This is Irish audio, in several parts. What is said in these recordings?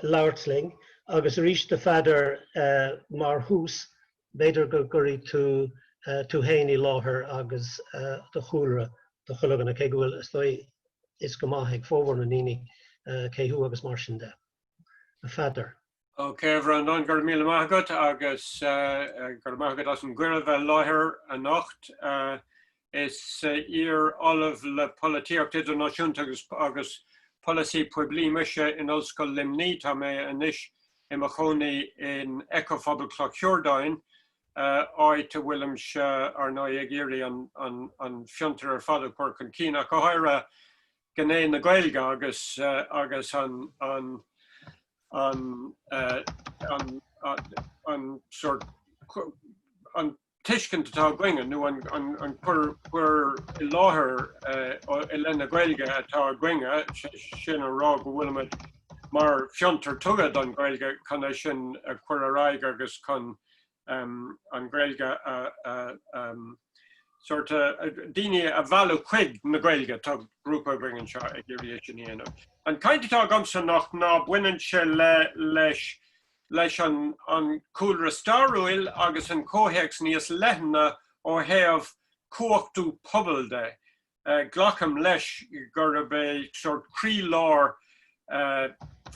labhairt linn agus arís do Pheadar mar thús, b'fhéidir go gcuirfidh tú tú féin i láthair agus do chúlra do chuid againn, cé go bhfuil is dóigh a fhios go maith ag formhór na ndaoine cé thú agus mar sin de. A Pheadair. OK a Bhreandáin, go raibh míle maith agat agus go raibh maith agat as an gcuireadh bheith i láthair anocht. Is iar Ollamh le Polaitíocht Idirnáisiúnta agus Polasaí Poiblí mise in Ollscoil Luimní. Tá mé anois i mo chónaí in Eco-phobal Chloch Shiurdáin, áit a bhfuilimse, ar ndóigh, ag iarraidh an fiontar ar fad a chur chun cinn, ach go háirithe. gné na Gaeilge agus agus an an an an an sort an tuiscint atá againne nó an an an chur chur i láthair i leith na Gaeilge atá againne sin a rá go bhfuilimid mar fiontar tugtha don Gaeilge chun é sin a chur ar aghaidh agus chun an Ghaeilge sórt daoine a mhealladh chuig na Gaeilge tá grúpa againn anseo ag iarraidh é sin a dhéanamh. An chaint atá agamsa anocht ná baineann sé leis an cúlra stairiúil agus an comhthéacs níos leithne ó thaobh cumhachtú pobail de. Glacaim leis gurb é sórt croí-lár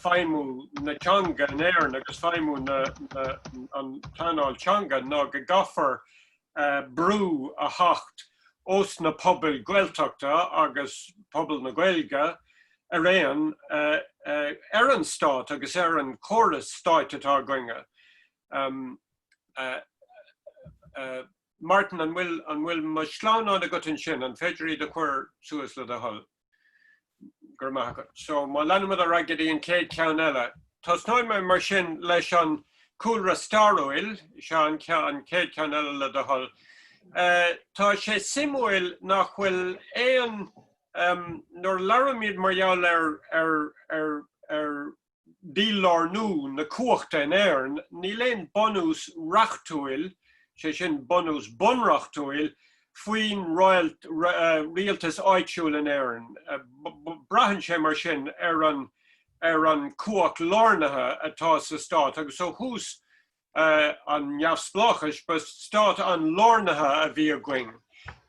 feidhmiú na teanga in Éirinn agus feidhmiú an pleanáil teanga ná go gcaithfear brú a theacht ós na pobail Gaeltachta agus pobal na Gaeilge araon ar an stát agus ar an chóras stáit atá againne. Martin, an bhfuil, an bhfuil mo shleamhnáin agat ansin, an féidir iad a chuir suas le do thoil? Go raibh maith agat. So má leanaimid ar aghaidh go dtí an chéad ceann eile. Tosnóidh mé mar sin leis an cúlra stairiúil, sea an chéad ceann eile le do thoil. Eh, tá sé suimiúil nach bhfuil aon, em, nuair a labhraímid mar gheall ar, ar, ar, ar, dílárnú na cumhachta in Éirinn, níl aon bunús reachtúil, sé sin, bunús bunreachtúil, faoin rialtas áitiúil in Éirinn. Braitheann sé mar sin ar an cumhacht lárnaithe atá sa stát agus ó thús an neamhspleáchais, ba stát an-lárnaithe a bhí againn.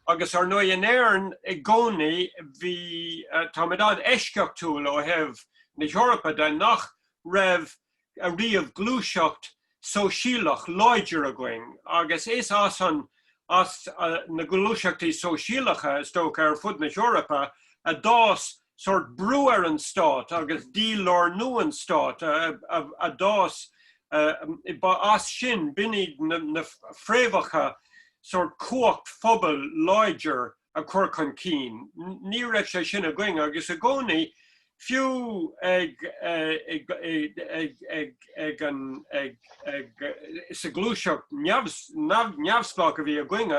Agus, ar ndóigh, in Éirinn i gcónaí bhí, táimid an-eisceachtúil ó thaobh na hEorpa de nach raibh riamh gluaiseacht shóisialach láidir againn. Agus is as an, as na gluaiseachtaí sóisialacha, is dócha, ar fud na hEorpa a d'fhás sórt brú ar an stát agus dí-lárnú an stáit a d'fhás as sin, b'in iad na fréamhacha sórt cumhacht phobail láidir a chur chun cinn. Ní raibh sé sin againn agus i gcónaí, fiú sa ghluaiseacht neamhspleách a bhí againn,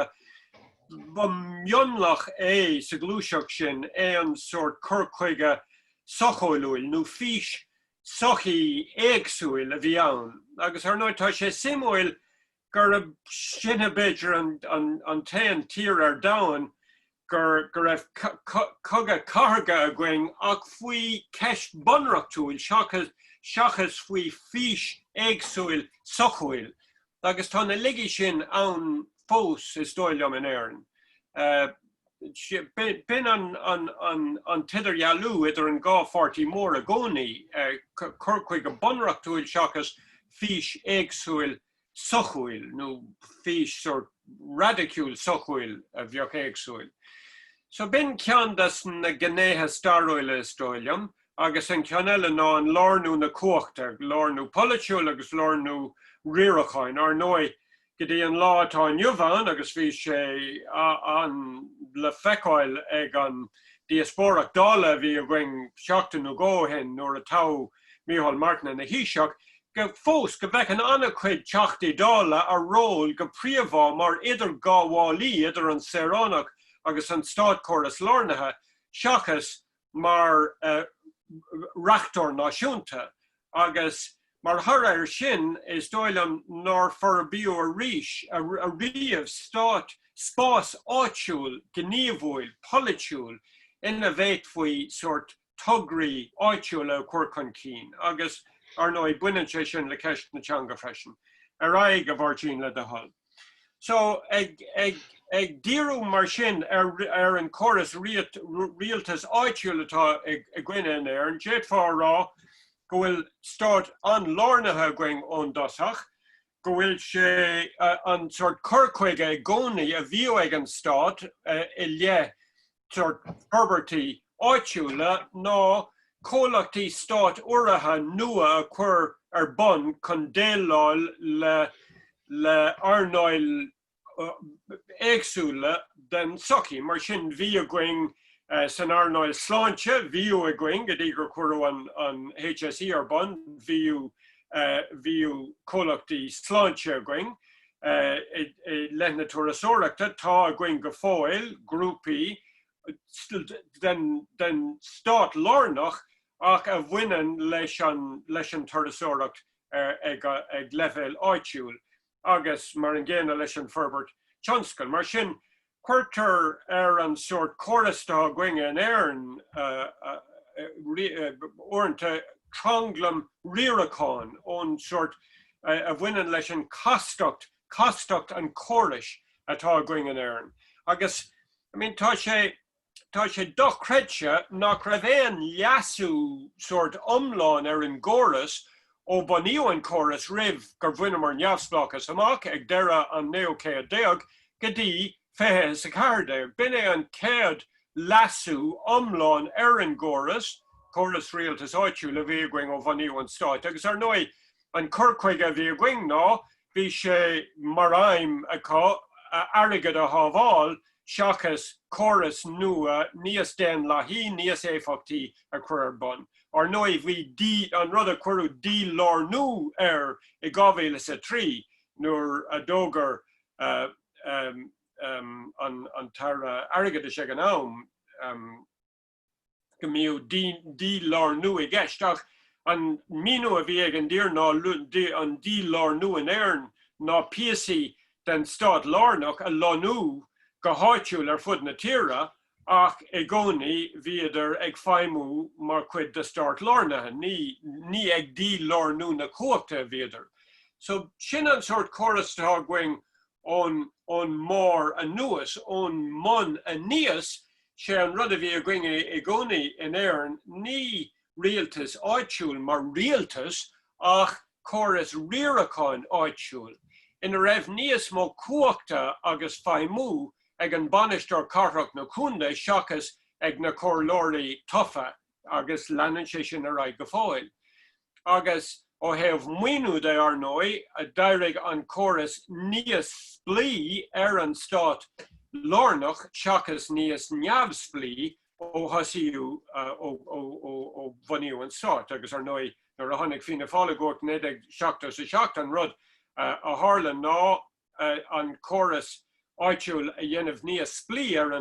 Ba mhionlach é sa ghluaiseacht sin aon sórt cur chuige sochúil nó fís sochaí éagsúil a bhí ann agus ar ndóigh tá sé suimiúil gurb sinne b'fhéidir an t-aon tír ar domhan go raibh cogadh cathartha againn ach faoi cheist bunreachtúil seachas faoi fís éagsúil sochúil. Agus tá na laigí sin ann fós, is dóigh liom, in Éirinn. B'in an t-idirdhealú idir an dhá pháirtí mór i gcónaí, cur chuige bunreachtúil seachas fís éagsúil sochúil, nó fís sórt raidiciúil sochúil a bheadh éagsúil. So b'in ceann des na gnéithe stairiúla, is dóigh liom. agus an ceann eile ná an lárnú na cumhachta, lárnú polaitiúil agus lárnú riaracháin. Ar ndóigh, go dtí an lá atá inniu ann, agus bhí sé an le feiceáil ag an díospóireacht Dála a bhí againn seachtain nó dhó ó shin nuair a toghadh Micheál Martin ina Thaoiseach, go fós go bhfeiceann an-chuid Teachtaí Dála a ról go príomha mar idirghabhálaí idir an saoránach agus an státchóras lárnaithe, seachas mar reachtóir náisiúnta agus mar thoradh air sin is dóigh liom nár forbraíodh arís ariamh stát spás áitiúil gníomhúil polaitiúil ina bhféadfaí sórt tograí áitiúla a chur chun cinn agus, ar ndóigh, baineann sé sin le ceist na teanga freisin. Ar aghaidh, a Mháirtín, le do thoil. So, ag díriú mar sin ar an gcóras rialtas áitiúil atá againne in Éirinn, d'fhéadfá a rá go bhfuil stát an-lárnaithe againn ón dtosach, go bhfuil sé, an sórt cur chuige i gcónaí a bhíodh ag an stát i leith forbairtí áitiúla ná comhlachtaí stát-urraithe nua a chur ar bun chun déileáil le hearnálacha éagsúla den tsochaí. Mar sin, bhíodh againn san earnáil sláinte, bhíodh againn go dtí gur cuireadh an HSE ar bun, bhíodh comhlachtaí sláinte againn, I leith na turasóireachta, tá againn go fóill grúpaí den stát lárnach ach a bhaineann leis an turasóireacht ag leibhéal áitiúil agus mar an gcéanna leis an bhforbairt tionscail. Mar sin, cuirtear ar an sórt córas atá againn in Éirinn uaireanta, tranglam riaracháin ón sórt a bhaineann leis an castacht, castacht an chórais atá againn in Éirinn agus I mean tá sé. Tá sé dochreidte nach raibh aon leasú sórt iomlán ar an gcóras ó bunaíodh an córas roimh gur bhaineamar neamhspleáchas amach ag deireadh an naoú céad déag go dtí fiche is a ceathair déag. B'in é an chéad leasú iomlán ar an gcóras, córas rialtais áitiúil a bhí againn ó bhunaíodh an stát agus ar ndóigh an cur chuige a bhí againn ná Bhí sé mar aidhm acu airgead a shábháil seachas córas nua níos daonlathaí, níos éifeachtaí a chur ar bun. Ar ndóigh, bhí d-, an rud a cuireadh dílárnú air i 2003 nuair a d'fhógair an tAire Airgeadais ag an am, go mbíodh dílárnú i gceist ach an míniú a bhí ag an dtír ná an dílárnú in Éirinn ná píosaí den stát lárnach a lonnú go háitiúil ar fud na tíre ach i gcónaí bhíodar ag feidhmiú mar chuid de stát lárnaithe, ní ag dílárnú na cumhachta a bhíodar. So sin an sórt córas atá againn ón, ón mbarr anuas, ón mbun aníos, sé an rud a bhí againn i gcónaí in Éirinn, ní rialtas áitiúil mar rialtas ach córas riaracháin áitiúil ina raibh níos mó cumhachta agus feidhmiú ag an bainisteoir cathrach nó contae seachas ag na comhairleoirí tofa. agus leanann sé sin ar aghaidh go fóill. Agus ó thaobh maoiniú de, ar ndóigh, a d'éirigh an córas níos spleí ar an stát lárnach seachas níos neamhspleí ó thosaíodh, ó bhunaíodh an stát. Agus ar ndóigh, nuair a tháinig Fianna Fáil i gcumhacht in 1977, an rud a tharla ná, an córas áitiúil a dhéanamh níos spleí ar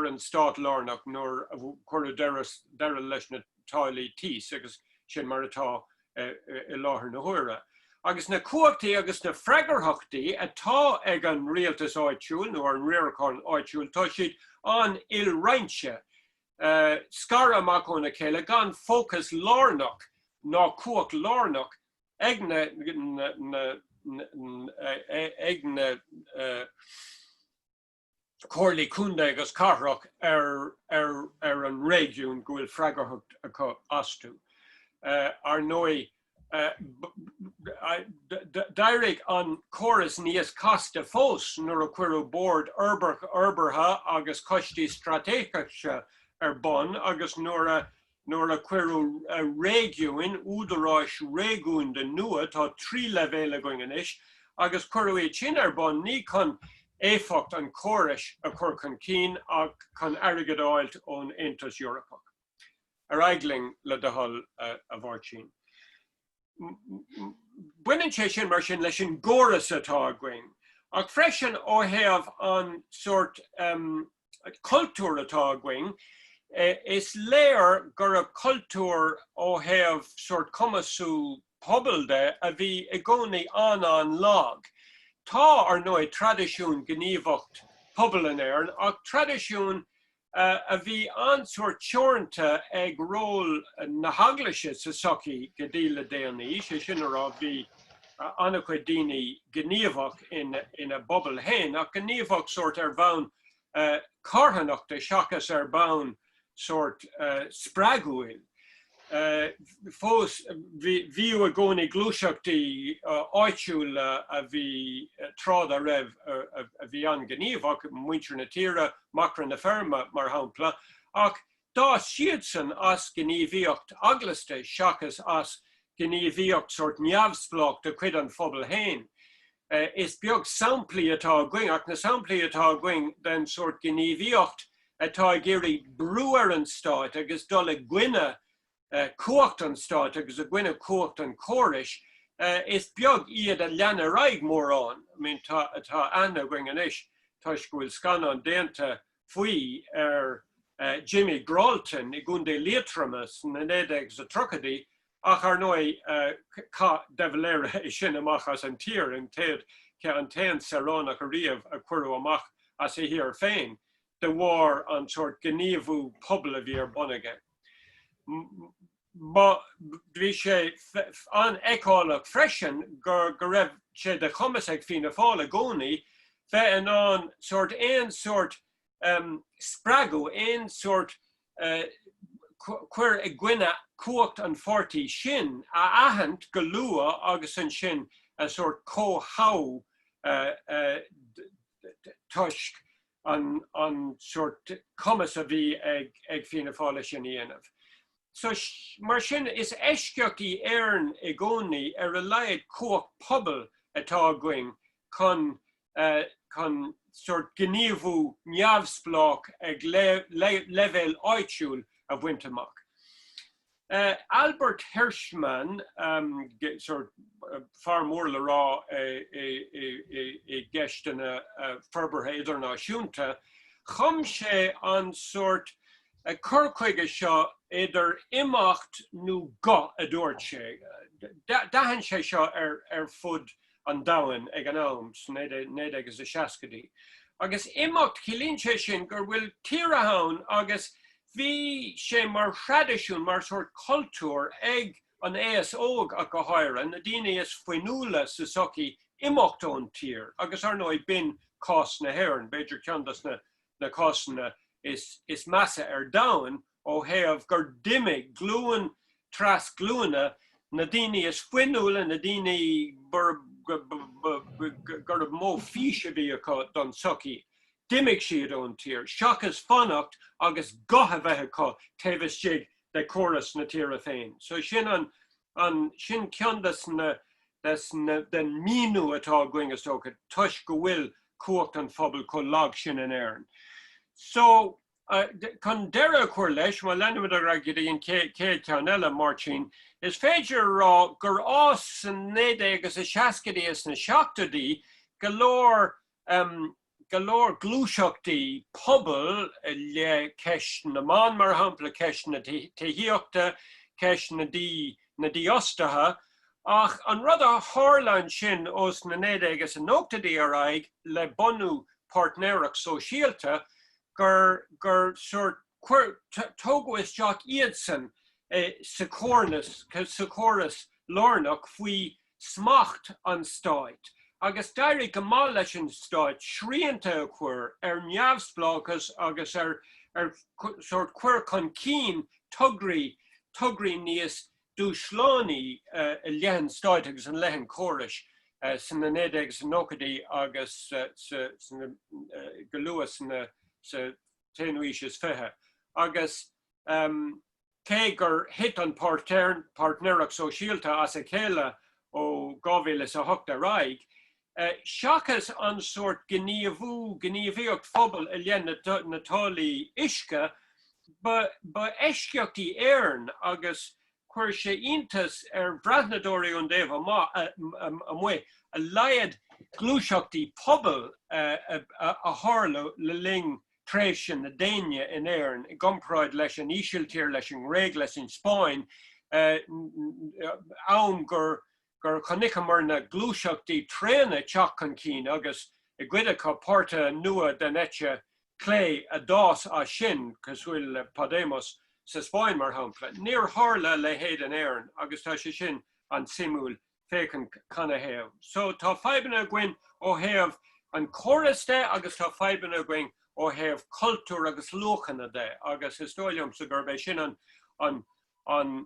an stát lárnach nuair a cuireadh deireadh leis na táillí tís, agus sin mar atá i láthair na huaire. Agus na cumhachtaí agus na freagarthachtaí atá ag an rialtas áitiúil nó an riarachán áitiúil, tá siad an-ilroinnte, scartha amach óna chéile, gan fócas lárnach ná cumhacht lárnach ag na comhairlí contae agus cathrach ar an réigiún go bhfuil freagarthacht acu astu. Ar ndóigh, d'éirigh an córas níos casta fós nuair a cuireadh Boird Fhorbartha agus Coistí Straitéiseacha ar bun agus nuair a Nuair a cuireadh réigiúin, údaráis réigiúnda nua, tá trí leibhéal againn anois, agus cuireadh iad sin ar bun ní chun éifeacht an chórais a chur chun cinn ach chun airgead a fháilt ón Aontas Eorpach. Ar aghaidh linn, le do thoil, a Mháirtín. Baineann sé sin, mar sin, leis an gcóras atá againn, ach freisin ó thaobh an sórt. cultúr atá againn, is léir gurb cultúr ó thaobh sórt cumasú pobail de a bhí i gcónaí an-an-lag. Tá, ar ndóigh, traidisiún gníomhaíocht pobail in Éirinn ach traidisiún a bhí an-sórt teoranta ag ról na hEaglaise sa tsochaí go dtí le déanaí, sé sin a rá, bhí, an-chuid daoine gníomhach ina bpobal féin ach gníomhach sórt ar bhonn carthanachta seachas ar bhonn sórt spreagúil. Fós, bhíodh i gcónaí gluaiseachtaí áitiúla a bhí tráth dá raibh a bhí an-ghníomhach, Muintir na Tíre, Macra na Feirme, mar shampla, ach D'fhás siadsan as gníomhaíocht eaglasta seachas as gníomhaíocht sórt neamhspleách de chuid an phobail féin. Is beag samplaí atá againn, ach na samplaí atá againn, den sórt gníomhaíocht atá ag iarraidh brú ar an stát agus dul i gcoinne cumhacht an stáit agus i gcoinne cumhacht an chórais, is beag iad a lean ar aghaidh mórán. I mean tá tá aithne againn anois toisc go bhfuil scannán déanta faoi ar Jimmy Gralton i gContae Liatroma sna 1930idí ach ar ndóigh chaith de Valera é sin amach as an tír, an chéad an t-aon saoránach ariamh a cuireadh amach as a thír féin. de bharr an sort gníomhú pobail a bhí ar bun aige. Bhí sé an-fheiceálach freisin go raibh sé de chumas ag Fianna Fáil i gcónaí bheith in ann sort aon sort spreagadh, aon sort cur i gcoinne cumhacht an pháirtí sin a aithint go luath agus ansin a sort chomhthoghadh toisc, an sórt cumas a bhí ag Fianna Fáil é sin a dhéanamh. So, mar sin, is eisceacht í Éirinn i gcónaí, ar a laghad cumhacht pobail atá againn chun chun sórt gníomhú neamhspleách ag leibhéal áitiúil a bhaint amach. Albert Hirschman, sórt fear mór le rá i gceisteanna forbartha idirnáisiúnta, chum sé an sórt cur chuige seo idir imeacht nó guth, a dúirt sé. D'aithin sé seo ar fud an domhain ag an am, sna 1960idí. Agus imeacht, ciallaíonn sé sin go bhfuil tíortha ann agus Bhí sé mar thraidisiún, mar shórt cultúr ag an aos óg ach go háirithe, na daoine is fuinniúla sa tsochaí imeacht ón tír agus ar ndóigh b'in cás na hÉireann, b'fhéidir ceann dos na cásanna is measa ar domhain ó thaobh gur d'imigh glúin tar éis glúine, na daoine is fuinniúla, na daoine gurbh mó fís a bhí acu don tsochaí, d'imigh siad ón tír, seachas fanacht agus guth a bheith acu taobh istigh de chóras na tíre féin. So sin an, an, sin ceann des na, des na, den míniú atá againn is dócha, toisc go bhfuil cumhacht an phobail chomh lag sin in Éirinn. So. Chun deireadh a chur leis, má leanaimid ar aghaidh go dtí an chéad cheann eile, Máirtín, is féidir a rá gur fhás sna 19 is a 60idí is na 70idí go leor, go leor gluaiseachtaí pobail i leith ceist na mban, mar shampla, ceist na tithíochta, ceist na dífhostaithe. Ach an rud a tharla ansin ós na 19 is a 90idí ar aghaidh le bunú páirtnéireacht sóisialta, gur, gur sórt, tógadh isteach iadsan sa chóirneas, sa chóras lárnach faoi smacht an stáit agus d'éirigh go maith leis an stát srianta a chur ar neamhspleáchas agus ar, ar sórt, cur chun cinn tograí, tograí níos, Dúshlánaí i leith an stáit agus i leith an chórais sna 1990idí agus go luath sa t-aonú aois is fiche agus cé gur thit an páirtnéireacht sóisialta as a chéile ó 2008 ar aghaidh, seachas an sórt gníomhú, gníomhaíocht phobail i leith na táillí uisce, ba eisceacht í Éire agus chuir sé iontas ar bhreathnadóirí ón dtaobh amuigh a laghad gluaiseachtaí pobail a tharla le linn tréimhse na déine in Éirinn i gcomparáid leis an Ísiltír, leis an nGréig, leis an Spáinn, am gur. gur chonaiceamar na gluaiseachtaí tréana teacht chun cinn agus, i gcuid acu, páirtithe nua den eite chlé a d'fhás as sin, cosúil le Podemos sa Spáinn, mar shampla. Níor tharla a leithéid in Éirinn agus tá sé sin an-suimiúil féachaint canathaobh. So, tá fadhbanna againn ó thaobh an chórais de agus tá fadhbanna againn ó thaobh cultúir agus luachanna de agus is dóigh liomsa gurb é sin an